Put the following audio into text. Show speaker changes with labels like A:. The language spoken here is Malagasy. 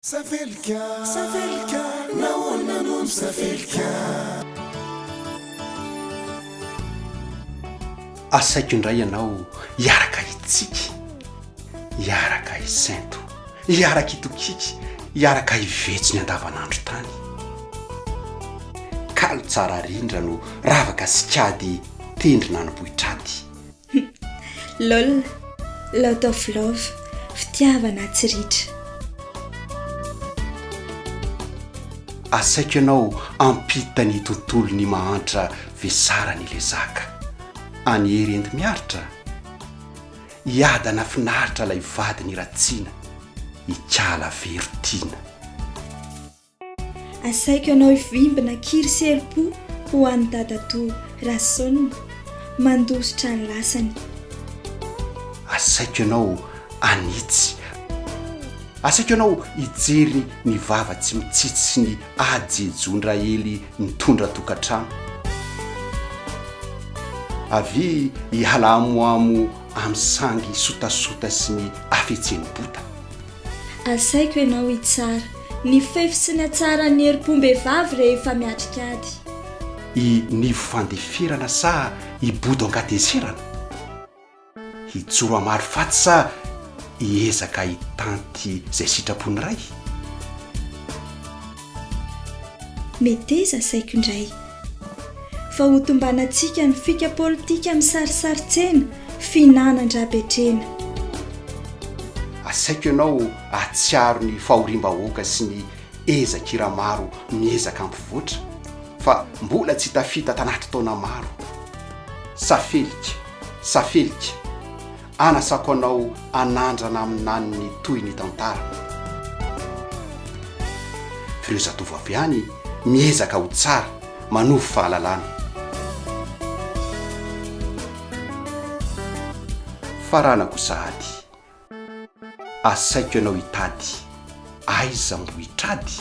A: Safelika, safelika, nahoana no misafelika?
B: Asaiko indray ianao hiaraka hitsiky, hiaraka hisento, hiaraka hitokiky, hiaraka hivetso ny andavanandro tany. Kalo tsara rindra no ravaka sy kady tendrina any Bohitraty.
C: Hum lol lot of love fitiavana atsy ritra.
B: Asaiko ianao ampita ny tontolo ny mahantra vesara ny lezaka any hery and miaritra iadana finaritra lay vadiny ratsina ikala vero tiana.
C: Asaiko anao hivimbina kiry sy herim-po ho an'i dadatoa Rason mandositra ny lasany. Asaiko
B: ianao hanitsy. Asaiko ianao hijery ny vava tsy mitsitsy sy ny ajejon-dRaely mitondra tokantrano. Avia hiala amoamo amin'ny sangy sotasota sy ny hafetseny bota. Asaiko
C: ianao hitsara. Ny fefy sy ny hatsaran'ny herim-pom-behivavy rehefa miatrika ady. I
B: Nivo Fandeferana sa i Bodo Ankateserana? Hijoro hamaly faty sa hiezaka hitanty izay sitrapon'ny Ray?
C: Meteza saiko indray. Fa ho tombanantsika ny fika politika misarisaritsena, fihinanan-dRabetrena.
B: Asaiko ianao ahatsiaro ny fahoriam-bahoaka sy ny ezak'ira maro miezaka hampivoatra, fa mbola tsy tafita tanaty taona maro. Safelika, safelika. Anasako anao anandrana aminany ny toy ny tantara. F'ireo zatovo avy any miezaka ho tsara, manovo fahalalana. Faranako sahady, asaiko ianao hitady, aiza mbo hitrady?